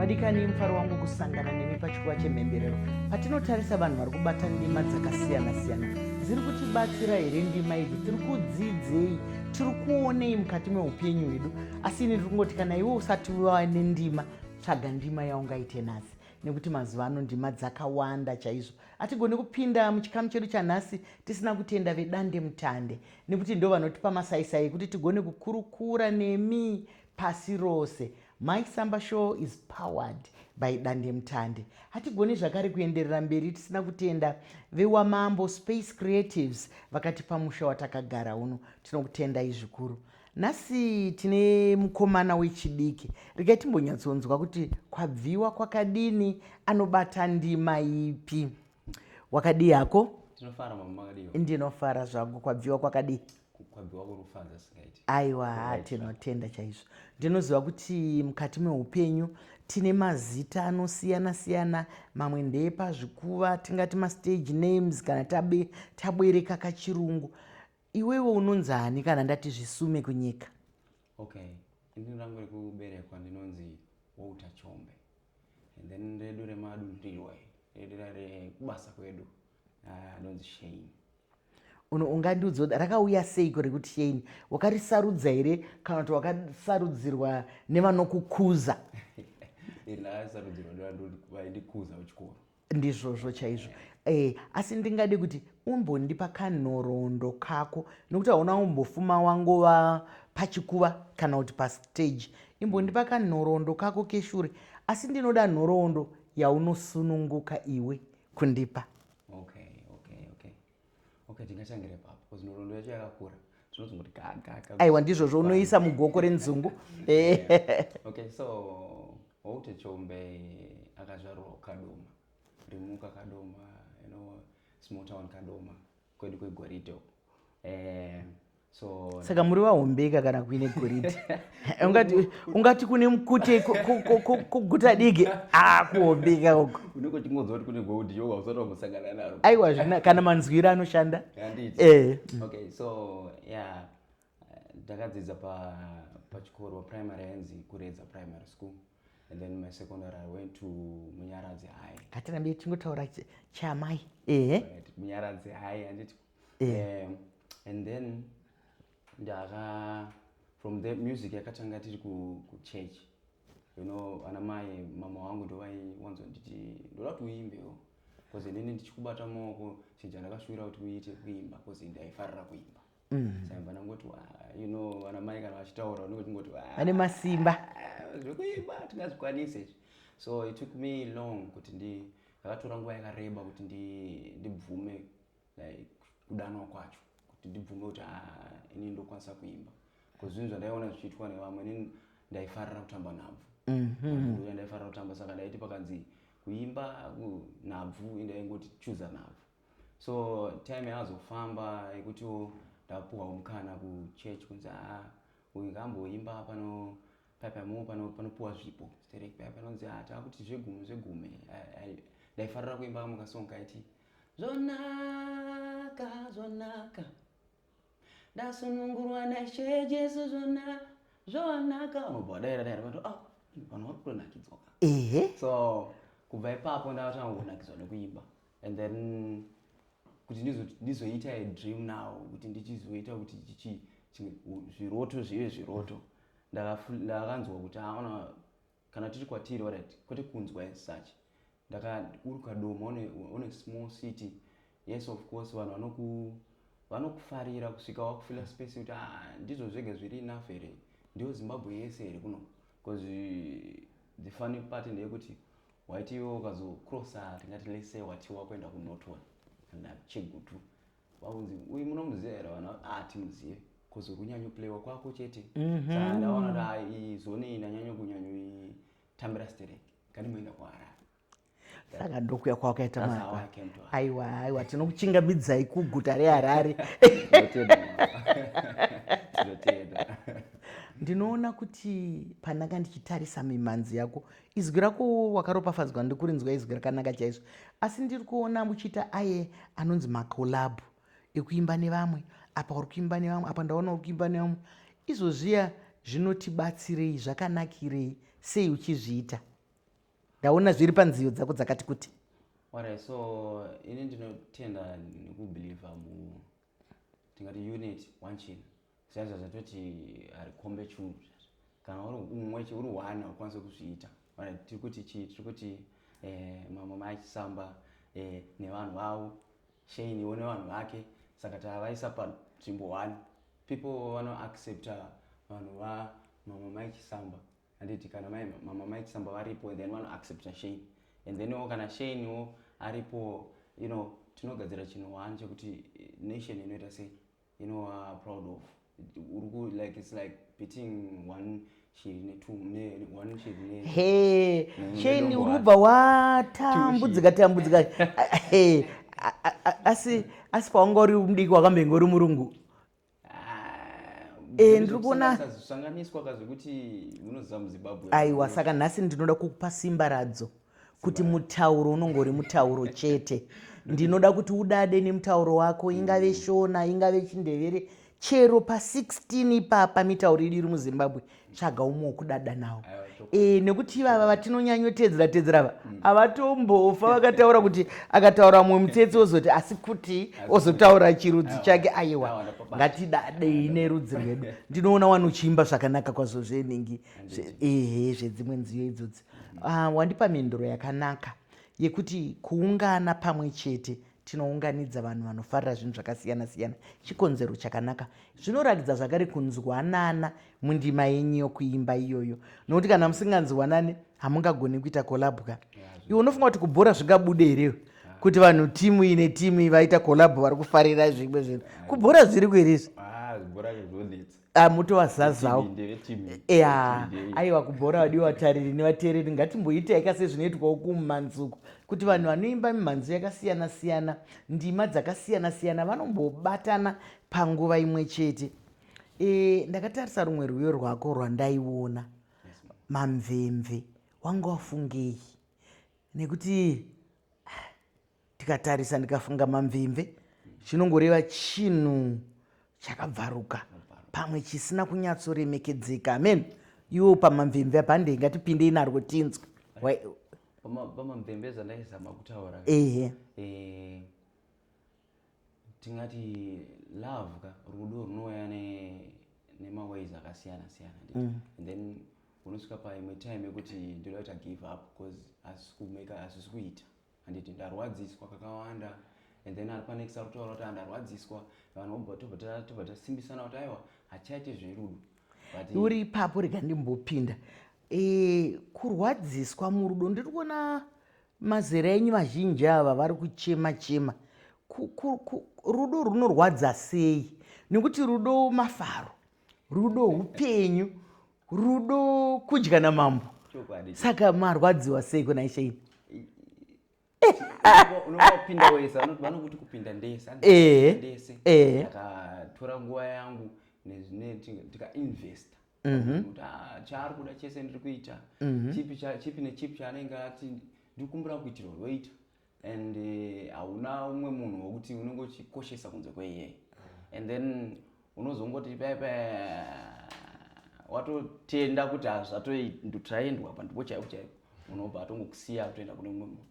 vadikani mufaro wangu kusangana nemi pachikuva chemhemberero patinotarisa vanhu vari kubata ndima dzakasiyana-siyana dziri kutibatsira here ndima idzi tiri kudzidzei tiri kuonei mukati meupenyu hwedu asi ini ndiri kungoti kana iwe usati wava nendima tsvaga ndima yaungaite nhasi nekuti mazuva ano ndima dzakawanda chaizvo hatigoni kupinda muchikamu chedu chanhasi tisina kutenda vedande mutande nekuti ndovanotipa masaisai ekuti tigone kukurukura nemi pasi rose my samba show is powered by dandemutande hatigoni zvakare kuenderera mberi tisina kutenda vewamambo space creatives vakatipa musha watakagara uno tinokutendai zvikuru nhasi tine mukomana wechidiki regai timbonyatsonzwa kuti kwabviwa kwakadini anobata ndima ipi wakadii hako tinofara mama makadii ndinofara zvangu kwabviwa kwakadii kwabviwa kurufadza singaiti aiwa ha tinotenda chaizvo ndinoziva kuti mukati meupenyu tine mazita anosiyana siyana mamwe ndeepazvikuva tingati mastage names kana tabe tabwereka kachirungu iwewe unonzi ani kana ndati zvisume kunyika okay ini rangu rekuberekwa ndinonzi wouta chombe and then redu remadunhurirwa redu rekubasa kwedu anonzi ah, shame ungandiudza kuti rakauya seiko rekuti shame wakarisarudza here kana kuti wakasarudzirwa nevanokukuza iri rakasarudzirwa nevanondikuza kuchikoro ndizvozvo chaizvo eh, asi ndingade kuti umbondipa kanhoroondo kako nokuti hauna umbofuma wangova pachikuva kana kuti pastage imbondipa kanhoroondo kako keshure asi ndinoda nhoroondo yaunosununguka iwe kundipa okay, okay, okay. okay tingatangire papo because nhoroondo yacho yakakura tinozongoti gagaka aiwa ndizvozvo unoisa mugoko renzungu eh. okay so waute chombe akazvarwa kadoma rimuka kadoma you know small town kadoma kwedu kwegoridhe uko eh, saka muri vahombeka kana kuine goridhe ungati kune mukute kuguta diki a kuhombeka uko aiwa zvina kana manzwiro anoshanda eh. ndakadzidza pachikoro primary yanzi kuredza primary school and then my secondary i went to munyaradzi high hatirambe tichingotaura chamai ehe munyaradzi high handiti eh, and then ndaka from the music yakatanga tiri kuchurch you know ana mai mama wangu ndovaiwanzonditi ndoda kuti uimbewo bcause inini ndichikubata maoko chinja ndakashuvira kuti uite kuimba bcause ndaifarira kuimba mm. saimba ndangoti you know vana mai kana vachitaura unenge tingoti vane masimba zvekuimba tingazvikwanise izvi so it took me long kuti ndi ndakatora nguva yakareba kuti ndibvume like kudanwa kwacho kuti ndibvume kuti ah, ini ndokwanisa kuimba bcause zvinhu zvandaiona zvichiitwa nevamwe ini ndaifarira kutamba nhabvu mm-hmm. ndaifarira kutamba saka ndaiti pakanzi kuimba nhabvu indaingoti chuza nhabvu so time yazofamba yekutiwo ndapuhwawo mukana kuchurch kunzi aa ah, uyu kamboimba pano papamo panopuwa zvipo sterek paya panonzi aa ah, taakuti zvegume zvegume ndaifarira kuimba kamwe kasong kaiti Zvonaka, zvonaka. Ndasunungurwa naShe Jesu zvona zvonaka. Unobva wadaira daira kuti ah vanhu vari kutonakidzwa ka. Ehe. So kubva ipapo ndakatanga kunakidzwa nekuimba and then kuti ndizo- ndizoita a dream now kuti ndichizoita kuti chichi chinge- u- zviroto zvive zviroto Ndakafu- ndakanzwa kuti aona Kana tiri kwatiri alright kwete kunzwa as such. Ndaka uri kadoma on a, on a small city. Yes of course vanhu vanoku vanokufarira kusvika wakufila space kuti ah ndizvo zvega zviri enough here. Ndiyo Zimbabwe yese here kuno. Because the funny part ndeyekuti waiti iwe ukazo crosser tingati let's say watiwa kuenda ku Norton kana Chegutu vaunzi uyu munomuziva here vana ah timuzive bcause uri kunyanyoplaywa kwako chete mhm. saka ndaona kuti ah, iyi zone iyi ndanyanya kunyanyoitambira stereki nganimoenda kuharare saka ndokuya kwawakaita mara aiwa aiwa tinokuchingamidzai kuguta reharare ndinoona kuti pandanga ndichitarisa mimhanzi yako Izwi rako wakaropafadzwa ndikurinzwa izwi rakanaka chaizvo asi ndiri kuona muchiita aye anonzi macolab ekuimba nevamwe apa uri kuimba nevamwe apa ndaona uri kuimba nevamwe izvozviya zvinotibatsirei zvakanakirei sei uchizviita ndaona zviri panziyo dzako dzakati kuti alright so ini ndinotenda nekubelieve mu tingati unit one china sezvo zvatoti ari kombe chungu zvazvo kana uri umwe uri one haukwanise kuzviita tiri kuti chii tiri kuti eh, mamwe maachisamba eh, nevanhu vavo shainiwo nevanhu vake saka tavaisa panzvimbo one people vanoaccepta vanhu va mamwe maichisamba handiti kana mai mama mai chisamba varipo then vano accepta shane and then wo kana shane wo aripo you know tinogadzira chinhu one chekuti eh, nation inoita sei inova proud of uri ku like it's like beating one shiri netu ne one shiri ne he Mm, sheni ndombowata. uri kubva watambudzika tambudzika he a- a- a- asi asi paunga uri mudiki wakambenga uri murungu Eh, ndiri kuona sanganiswa ka zvekuti munoziva muzimbabwe aiwa saka nhasi ndinoda kukupa simba radzo kuti mutauro unonge uri mutauro chete ndinoda kuti udade nemutauro wako ingave mm. shona ingave chindevere chero pa16 ipapa mitauro idu iri muzimbabwe tsvaga umwe wokudada nawo e, nekuti ivava vatinonyanyotedzera tedzera ava mm. avatombofa vakataura kuti akataura mumwe mutsetse ozoti asi kuti ozotaura chirudzi chake aiwa ngatidadei nerudzi rwedu ndinoona wani uchiimba zvakanaka kwazvo zvenhingi ehe zvedzimwe nziyo idzodzi ah, wandipa mhinduro yakanaka yekuti kuungana pamwe chete tinounganidza vanhu vanofarira zvinhu zvakasiyana-siyana chikonzero chakanaka zvinoratidza zvakare kunzwanana mundima yenyu yokuimba iyoyo nokuti kana musinganzwanani hamungagoni kuita kolabwa iwe unofunga kuti kubhora zvingabude here kuti vanhu timu ine timu vaita kolabho vari kufarira zvimwe zvinhu kubhora zviri kuerezvi ah, Ah, mutovazazawo ya aiwa kubhora vadiwa vatariri nevateereri ngatimboita yaka sezvinoitwa uku mumhanzi uku kuti vanhu vanoimba mimhanzi yakasiyana siyana ndima dzakasiyana siyana vanombobatana panguva imwe chete e, ndakatarisa rumwe rwiyo rwako rwandaiona mamvemve wanga wafungei nekuti tikatarisa ndikafunga mamvimve chinongoreva chinhu chakabvaruka pamwe chisina kunyatsoremekedzeka amen iwo pamamvemve apa handei ngatipindei narwo tinzwe pamamvemve zvandaizama kutaura ehe eh, tingati love ka rudo runouya nemaways akasiyana siyana mm. and then unosvika paimwe time yekuti ndoda kuita give up bcause asikuita Handiti ndarwadziswa kakawanda and then ari panext ari kutaura kuti ah, ndarwadziswa vanhu tobva tasimbisana kuti aiwa hatichaite zverudo uri ipapo rega ndimbopinda e, kurwadziswa murudo ndiri kuona mazera enyu vazhinji ava vari kuchema chema rudo runorwadza sei nekuti rudo mafaro rudo upenyu rudo kudya namambo saka marwadziwa sei kuna isheini unopinda wese vanokuti kupinda ndese ndese ndakatora nguva yangu nezvine tikainvesta mhm. kuti ah, chaari kuda chese ndiri kuita mhm. chipi nechipi chaanenge ati ndikumbira kuitirwa roita and eh, hauna uh, umwe munhu wekuti unenge uchikoshesa kunze kweiyeye and then unozongoti paya paya watotenda kuti hazvatotraendwa pandipo chaipo chaipo unobva atongokusiya kutoenda kune umwe munhu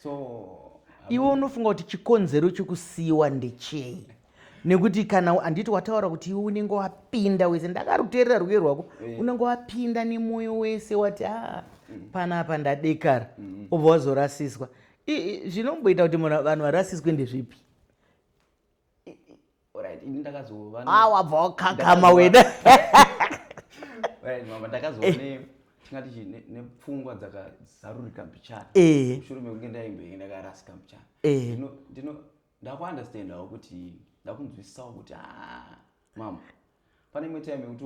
so iwe unofunga kuti chikonzero chekusiyiwa ndechei nekuti kana handiti wataura kuti iwe unenge wapinda wese ndakaruterera rwuye rwako eh. unenge wapinda nemwoyo wese wati a ah, mm. panapa ndadekara mm-hmm. obva wazorasiswa zvinomboita kuti munhu vanhu varasiswe ndezvipi ah, wabva wakakama wena ndakazoone tingati chi nepfungwa dzakazarurika mbichana eh. mushure mekunge ndaimboenda karasika mbichana eh. ndakuunderstandawo kuti ndakunzwisisawo kuti haa mama pane imwe time yekuti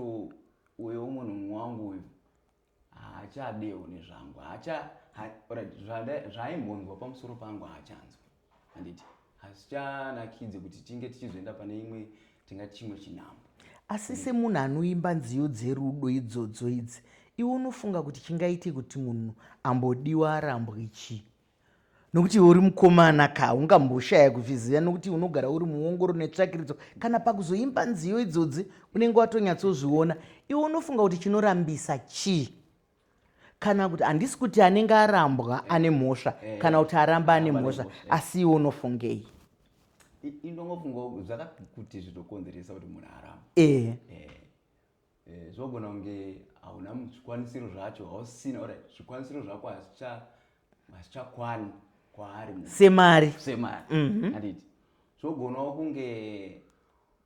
uyo munhu mumwe wangu uyu haachadewo nezvangu haacha zvaimbonzwa pamusoro pangu haachanzwa handiti hazichanakidze kuti tinge tichizoenda pane imwe tinga chimwe chinhambo asi semunhu anoimba nziyo dzerudo idzodzo idzi iwe unofunga kuti chingaite kuti munhu ambodiwa arambwe chii nokuti iwe uri mukomana ka ungamboshaya kuzviziva nokuti unogara uri muongoro netsvakiridzo kana pakuzoimba nziyo idzodzi unenge watonyatsozviona iwe unofunga kuti chinorambisa chii kana kuti handisi kuti anenge arambwa eh. ane mhosva eh. kana kuti aramba ane mhosva eh. asi iwe unofungei inongofunga zvakakuti zvinokonzeresa kuti munhu aramba Eh, zvogona kunge hauna zvikwanisiro zvacho hausina or zvikwanisiro zvako hazvichakwani kwaari semari semari mhm. anditi zvogonawo kunge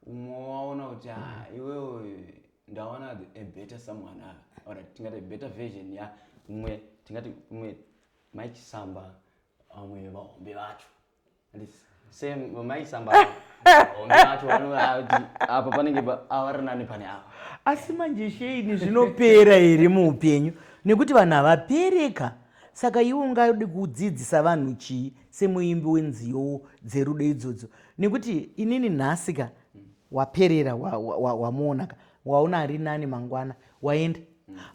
umwe waona kuti ha ah, iwewe ndaona a better someone ava ah, or tingati a better version ya umwe tingati umwe maichisamba vamwe vahombe vacho asi manje sheini zvinopera here muupenyu nekuti vanhu havapereka saka iwe ungadi kudzidzisa vanhu chii semuimbi wenziyowo dzerudo idzodzo nekuti inini nhasika waperera wamuonaka waona ari nani mangwana waenda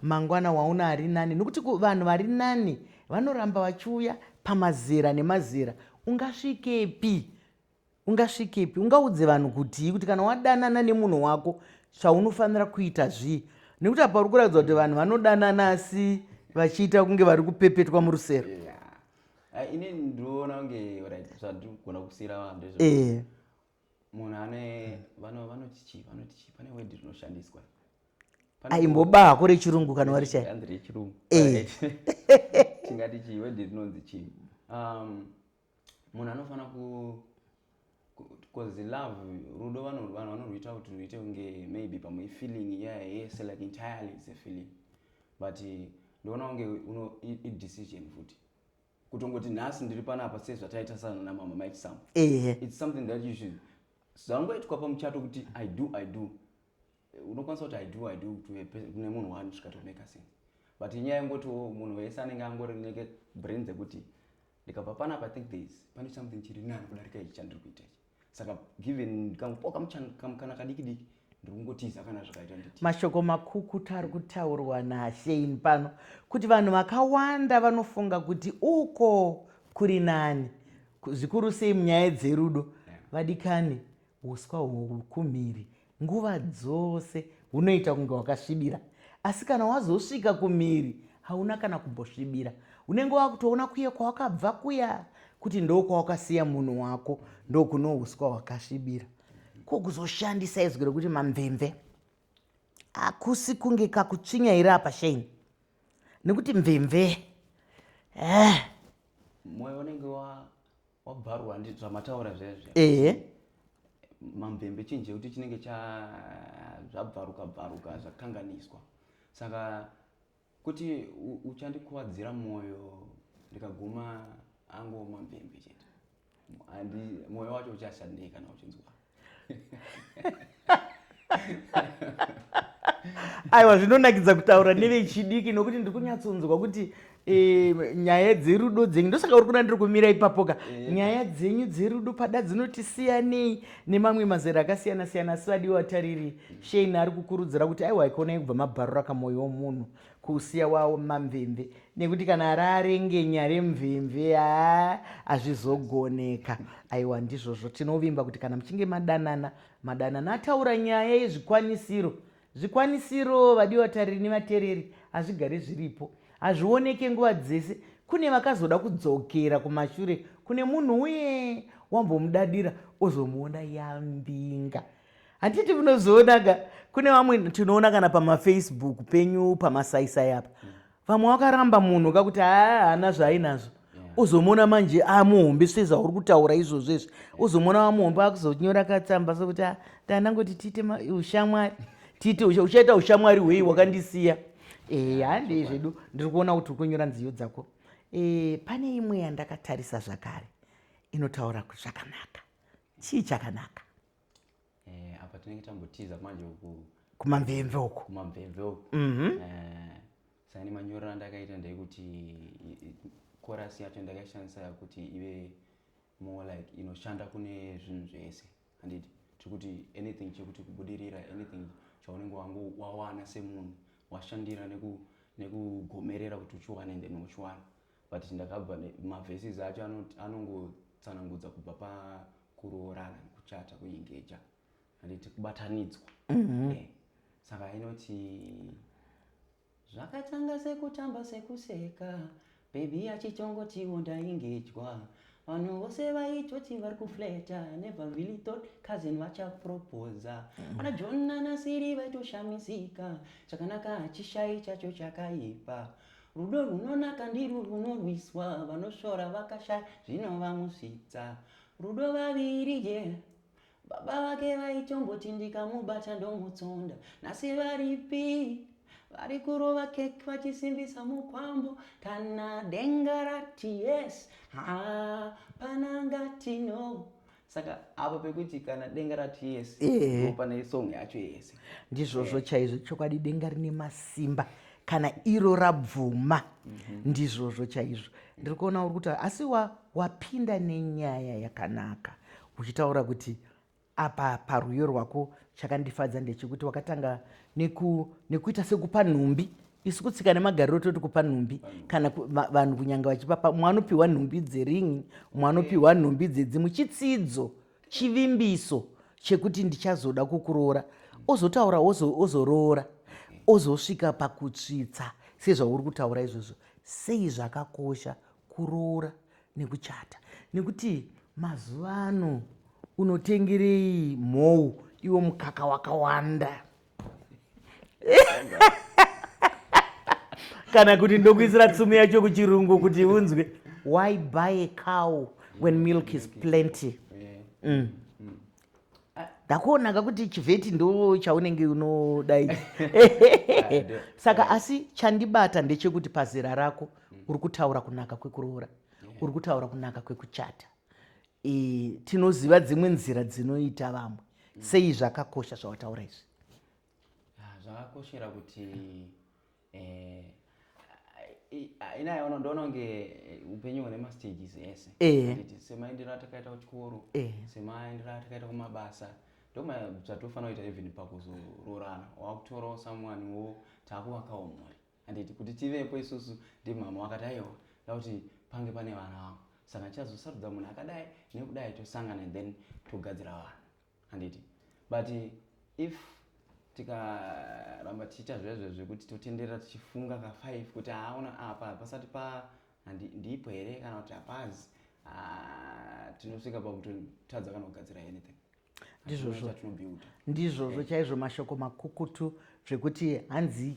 mangwana waona ari nani nokuti vanhu vari nani vanoramba vachiuya pamazera nemazera ungasvikepi ungasvikepi ungaudze vanhu kutii kuti kana wadanana nemunhu wako chaunofanira kuita zvii nekuti apa uri kuratidza kuti vanhu vanodanana asi vachiita kunge vari kupepetwa murusero yeah. uh, ini ndinoona kunge zvandinogona kusiira vanhu ndezvo eh. munhu ane vano vanoti chii vanoti chii pane word rinoshandiswa aimboba hako rechirungu kana wari chai anzi rechirungu eh. tingati chii word rinonzi chii um munhu anofanira ku because love rudo vanhu vanorwuita kuti rwuite kunge maybe pamwe ifeeling iya yese like entirely is a feeling but ndoona kunge idecision futi kutongoti nhasi ndiri panapa sezvataitasana namama mike sam ehe its something that you should zvangoitwa pamuchato kuti i do i do unokwanisa kuti i do i do kune munhu wani svika tomeka sense but inyaya yengotiwo munhu wese anenge angori neke brain dzekuti ndikabva panapa think thereis pane something chiri nani kudarika ichi chandiri kuita ichi saka given kamupoka kamukana kadiki diki ndirikungotiza kana zvakaita nditi mashoko makukuta ari kutaurwa nashein pano kuti vanhu vakawanda vanofunga kuti uko kuri nani zvikuru sei munyaya dzerudo vadikani uswa hwokumhiri nguva dzose unoita kunge wakasvibira asi kana wazosvika kumhiri hauna kana kumbosvibira unenge wakutoona kuye kwawakabva kuya kuti ndo kwawakasiya munhu wako ndokunouswa hwakasvibira ko kuzoshandisa izwi rekuti mamvemve hakusi kunge kakutsvinyaira apa shame nekuti mvemve eh. moyo unenge wabvarwa ndi zvamataura zvezve ehe mamvembe chinhu chekuti chinenge cha zvabvaruka bvaruka zvakanganiswa saka kuti uchandikuvadzira mwoyo ndikaguma ango mamvembe chete mwoyo wacho uchashandei kana uchinzwa aiwa zvinonakidza kutaura nevechidiki nokuti ndiri kunyatsonzwa kuti e, nyaya dzerudo dzenyu ndosaka uri kuna ndiri kumira ipapoka eh. nyaya dzenyu dzerudo pada dzinoti siyanei nemamwe mazera akasiyana siyana asi vadiwa tariri shein ari kukurudzira kuti aiwa ikoonai kubva mabharura kamwoyo womunhu kusiya waoma mvemve nekuti kana araarengenya remvemve haa hazvizogoneka aiwa ndizvozvo tinovimba kuti kana muchinge madanana madanana ataura nyaya yezvikwanisiro zvikwanisiro vadi vatariri nevatereri hazvigare zviripo hazvioneke nguva dzese kune vakazoda kudzokera kumashure kune munhu uye wambomudadira ozomuona yambinga hatiti munozoonaga kune vamwe tinoona kana pamafacebook penyu pamasaisai apa mm. vamwe wakaramba munhu kakuti haa haana zvaainazvo uzomuona manje amuhombe sve zvauri kutaura izvozvo izvi uzomuona wamuhombe akuzonyora katsamba sokuti ah, tanangoti tiite ushamwari tiite uchaita ushamwari hwei wakandisiya eh, handei zvedu ndiri kuona kuti uri kunyora nziyo dzako eh, pane imwe yandakatarisa zvakare inotaura zvakanaka chii chakanaka eh, apa tinenge tambotiza manje uku kumamvemve uku kumamvemve uku mm -hmm. eh, sani manyorero andakaita ndeyekuti korasi yacho ndakaishandisa kuti ive more like inoshanda kune zvinhu zvese handiti tiri kuti anything chekuti kubudirira anything chaunenge wangu wawana semunhu washandira nekugomerera kuti uchiwane then uchiwana But ndakabva ma verses acho anongotsanangudza kubva pa kuroorana kuchata kuengeja handiti kubatanidzwa mhm. eh, saka inoti zvakatanga sekutamba sekuseka bebi achichongotiwo ndaingejwa vanhu vose vaitoti vari kufleta never really thought cousin vachapropoza mhm. ana john nanasiri vaitoshamisika chakanaka hachishai chacho chakaipa mm -hmm. Rudo runonaka ndirwo runorwiswa, vanosvora vakashaya zvinovamosvitsa. Rudo vaviri je baba vake vaitomboti ndikamubata ndomutsonda, nhasi varipi? vari kurova kek vachisimbisa mukwambo kana denga rati yes hapana ngati no saka apa pekuti kana denga rati yes eh. pane song yacho yese ndizvozvo eh. chaizvo chokwadi denga rine masimba kana iro rabvuma mhm. ndizvozvo chaizvo ndiri kuona uri kutaura asi wapinda nenyaya yakanaka uchitaura kuti apa parwiyo rwako chakandifadza ndechekuti wakatanga nekuita sekupa nhumbi isu kutsika nemagariro toti kupa nhumbi kana vanhu kunyanga vachipapa umwe anopiwa nhumbi dzeringi umwe anopiwa nhumbi dzedzimwe chitsidzo chivimbiso chekuti ndichazoda kukuroora ozotaura ozoroora ozosvika pakutsvitsa sezvauri kutaura izvozvo sei zvakakosha kuroora nekuchata nekuti mazuva ano unotengerei mhou iwo mukaka wakawanda kana kuti ndokuisira tsumu yacho kuchirungu kuti unzwe why buy a cow when milk is plenty mm. ndakuonaka kuti chivheti ndo chaunenge unodai saka asi chandibata ndechekuti pazera rako uri kutaura kunaka kwekuroora uri kutaura kunaka kwekuchata e, tinoziva dzimwe nzira dzinoita vamwe mm. sei zvakakosha zvawataura izvi ah, zvakakoshera kuti eh, ina yono ndononge upenyu hune mastages ese eh. semaendero atakaita kuchikoro eh. semaendero atakaita kumabasa ndomabzvatofanira kuita even pakuzoroorana wakutorawo someone wo takuvakawo mhuri Handiti kuti tivepo isusu ndimhamha wakati aiwa ndakuti pange pane vana vangu saka tichazosarudza munhu akadai nekudai tosangana and then togadzira vana handiti but if tikaramba tichiita zvezve zvekuti totenderera tichifunga ka five kuti haaona ah, apa pasati pa ndipo here kana kuti hapazi ah, tinosvika pakutotadza kana kugadzira anything ndizvozvo ndizvozvo chaizvo mashoko makukutu zvekuti hanzi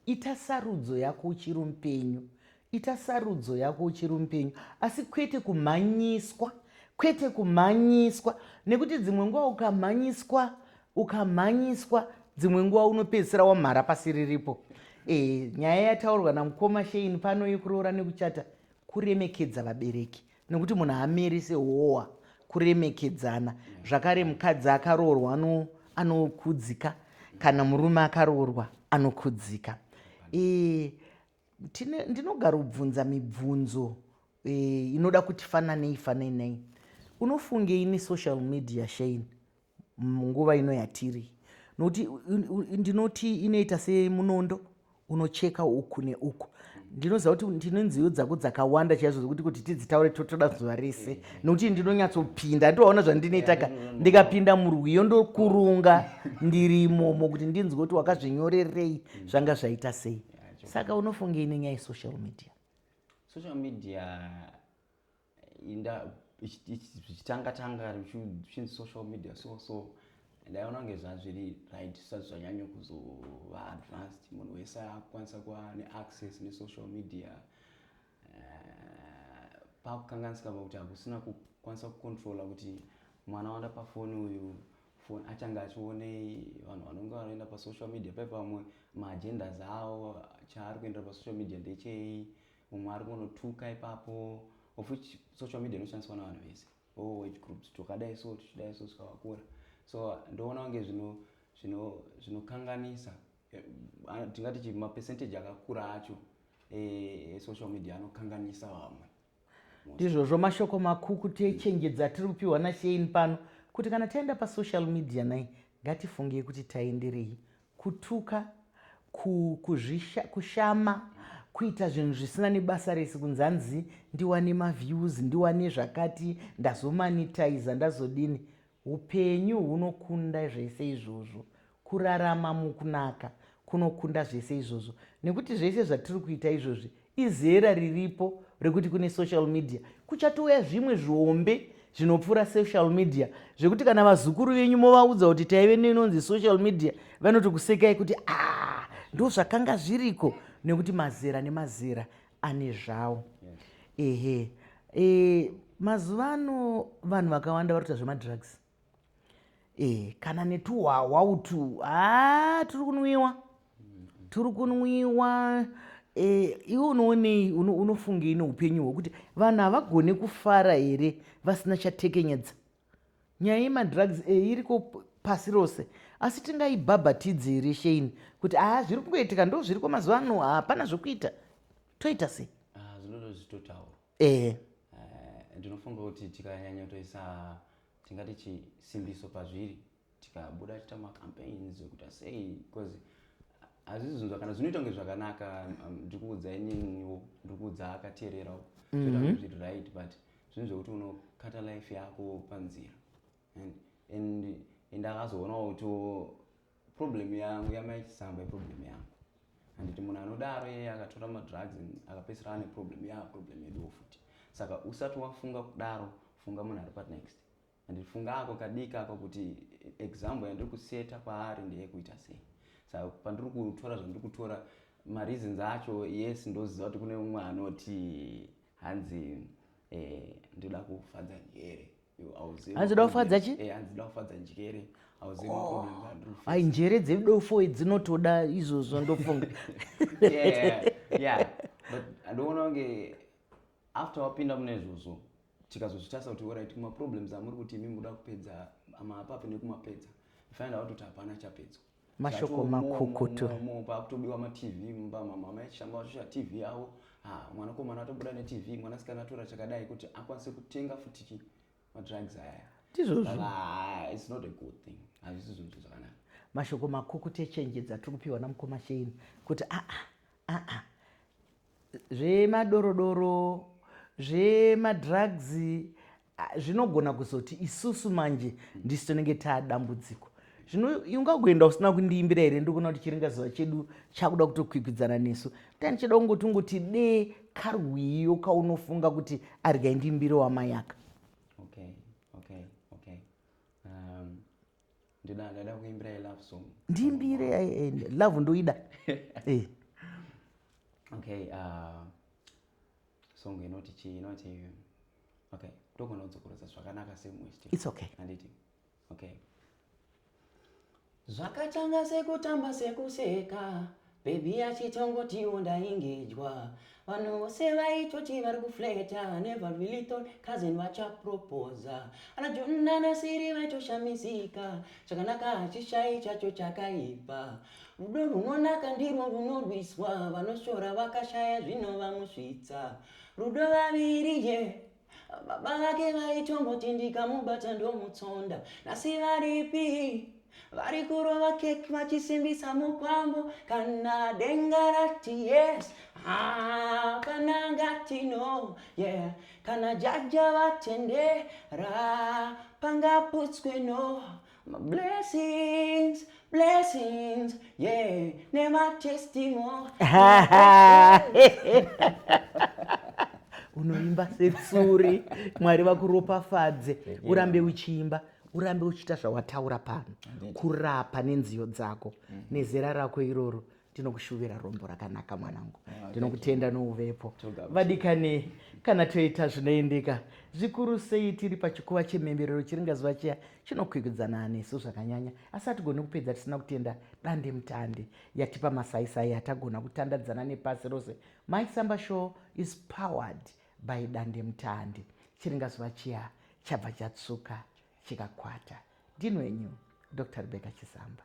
ita sarudzo yako uchiri mupenyu ita sarudzo yako uchiri mupenyu asi kwete kumhanyiswa kwete kumhanyiswa nekuti dzimwe nguva ukamhanyiswa ukamhanyiswa dzimwe nguva unopedzisira wamhara pasi riripo e, nyaya yataurwa namukoma shein pano yekuroora nekuchata kuremekedza vabereki nekuti munhu haamiri sehowa kuremekedzana zvakare mukadzi akaroorwa anokudzika kana murume akaroorwa anokudzika e, ndinogarobvunza mibvunzo e, inoda kuti fananei fananei unofungei nesocial media shane munguva ino yatiri nokuti ndinoti inoita semunondo unocheka uku neuku ndinoziva kuti ndine nziyo dzako dzakawanda chaizvo zvokuti kuti tidzitaure totoda zuva rese mm-hmm. nokuti ndinonyatsopinda ndovaona zvandinoitaka mm-hmm. ndikapinda murwiyo ndokurunga ndirimomo kuti ndinzwe kuti wakazvinyorerei mm-hmm. zvanga zvaita sei saka unofungei nenyaya yesocial media social media inda zvichitanga tanga zvichinzi social media so so ndaiona kunge zvazviri right zvisati zvanyanya kuzova advanced munhu wese akukwanisa kuva neaccess nesocal media eh, pakukanganisika pakuti hakusina kukwanisa kucontrola kuti mwana wanda pafoni uyu foni achange achionei vanhu vanonge vanoenda pasocial media pai pamwe maagendas avo chaari kuendera pasocial media ndechei mumwe ari kunotuka ipapo of which social media inoshandiswa navanhu vese all oh, age groups twakadai so tichidai so saka vakura so ndoona kunge zvino zvino zvinokanganisa eh, tingati chi mapercentage akakura acho e, social media anokanganisa vamwe ndizvozvo mashoko makukutu echenjedzo atiri kupiwa nashein pano kuti kana taenda pasocial media nai ngatifungei kuti taenderei Kutuka, ku, kuzvisha, kushama, kuita zvinhu zvisina nebasa rese kunzi hanzi ndiwane maviews, ndiwane zvakati, ndazomanitizer, ndazodini. Hupenyu hunokunda zvese izvozvo. Kurarama mukunaka kunokunda zvese izvozvo. Nekuti zvese zvatiri kuita izvozvi Izera riripo rekuti kune social media kuchatouya zvimwe zvihombe zvinopfuura social media zvekuti kana vazukuru venyu movaudza kuti taive neinonzi social media vanoti kusekai kuti ah ndo zvakanga zviriko nekuti mazera nemazera ane zvawo ehe e, mazuva ano vanhu vakawanda vari kuita zvemadrugs Eh, kana netuhwahwa utu haa ah, turi kunwiwa turi kunwiwa eh, iwe unoonei unofungei neupenyu hwekuti vanhu havagone kufara here vasina chatekenyedza nyaya yemadrugs eh, iriko pasi rose asi tingaibhabhatidzi here shein kuti haa ah, zviri kungoitika ndo zviriko mazuva ano hapana zvekuita toita sei ah, zvinoda zvitotaura ehe Eh, ndinofunga kuti tikanyanya kutoisa tingati chisimbiso pazviri tikabuda tiita macampaigns ekuita sei because hazvisi zvinhu zvakana zvinoita kunge zvakanaka um, ndiri kuudza ininiwo ndiri kuudza akateererawo zvinoita kunge zviri right but zvinhu zvekuti unokata life yako panzira and and and akazoonawo kuti problem yangu yamai chisamba iproblem yangu handiti munhu anodaro yeye akatora madrugs akapedzisira ane problem ya problem yeduwo futi saka usati wafunga kudaro funga munhu ari panext handiti funga ako kadiki ako kuti example yandiri kuseta kwaari ndeyekuita sei saka pandiri kutora zvandiri kutora mareasons acho yes ndoziva kuti kune umwe anoti hanzi eh, ndida kufadza nyere hanzi dofadza chi eh, hanzi dofadza njere oh. ai njere dzedofo dzinotoda izvozvo ndofunga ndoona kunge after wapinda mune izvozvo tikazozvitarisa kuti orit kumaproblems amuri kuti imi muda kupedza amapapi nekumapedza find out kuti hapana chapedzwa mashoko makukutu pakutobiwa matv mumba mama mai chishamba vachosha tv yavo ha mwanakomana atobuda netv mwanasikana atora chakadai kuti akwanise kutenga futiki madrugs ayaya ndizvozvoits not a good thing hazvisi zvinhu zvo zvakanaka mashoko makukutu echenje dzatiri kupiwa namukoma sheini kuti aa ah, aa ah, ah, zvemadorodoro zvemadrugs Ah, zvinogona kuzoti isusu manje ndisu tinenge taadambudziko zvino ungagoenda usina kundiimbira here ndikuona kuti chiringa zuva chedu chakuda kutokwikwidzana nesu tani chida kungoti ungoti dee karwiyo kaunofunga kuti argai ndiimbire wamayaka okay, okay, okay. Um, ndidada kuimbira ilove song ndiimbire eh, eh, love ndoida eh. okay, uh, song inoti chii inoti okay ndogona kudzokorodza zvakanaka semuist its okay handiti okay zvakatanga sekutamba sekuseka bebi yachitongotiwo ndaingejwa vanhu vose vaitoti vari kufleta never really thought cousin vachapropoza ana jonna nasiri vaitoshamisika chakanaka hachishai chacho chakaipa Rudo runonaka ndirwo runorwiswa, vanoshora vakashaya zvinovamuzvitsa. Rudo vaviri ye baba vake vaitomboti ndikamubata ndomutsonda, nhasi varipi? vari kurova kek vachisimbisa mukwambo kana denga rati yes hapana ngati no yeah kana jaja vatendera pangaputswe no Blessings, blessings, yeah, nema testimony. unoimba setsuri mwari vakuropafadze urambe uchiimba urambe uchiita zvawataura pano kurapa nenziyo dzako nezera rako iroro tinokushuvira rombo rakanaka mwanangu ah, tinokutenda nouvepo vadikanei kana toita zvinoendeka zvikuru sei tiri pachikuva chemhemberero chiringazuva chiya chinokwikwidzana anesu zvakanyanya asi hatigoni kupedza tisina kutenda dande mutande yatipa masaisai atagona kutandadzana nepasi rose mysamba show is powered by dande mutande chiringazuva chiya chabva chatsuka chikakwata ndinwenyu dr rebeka chisamba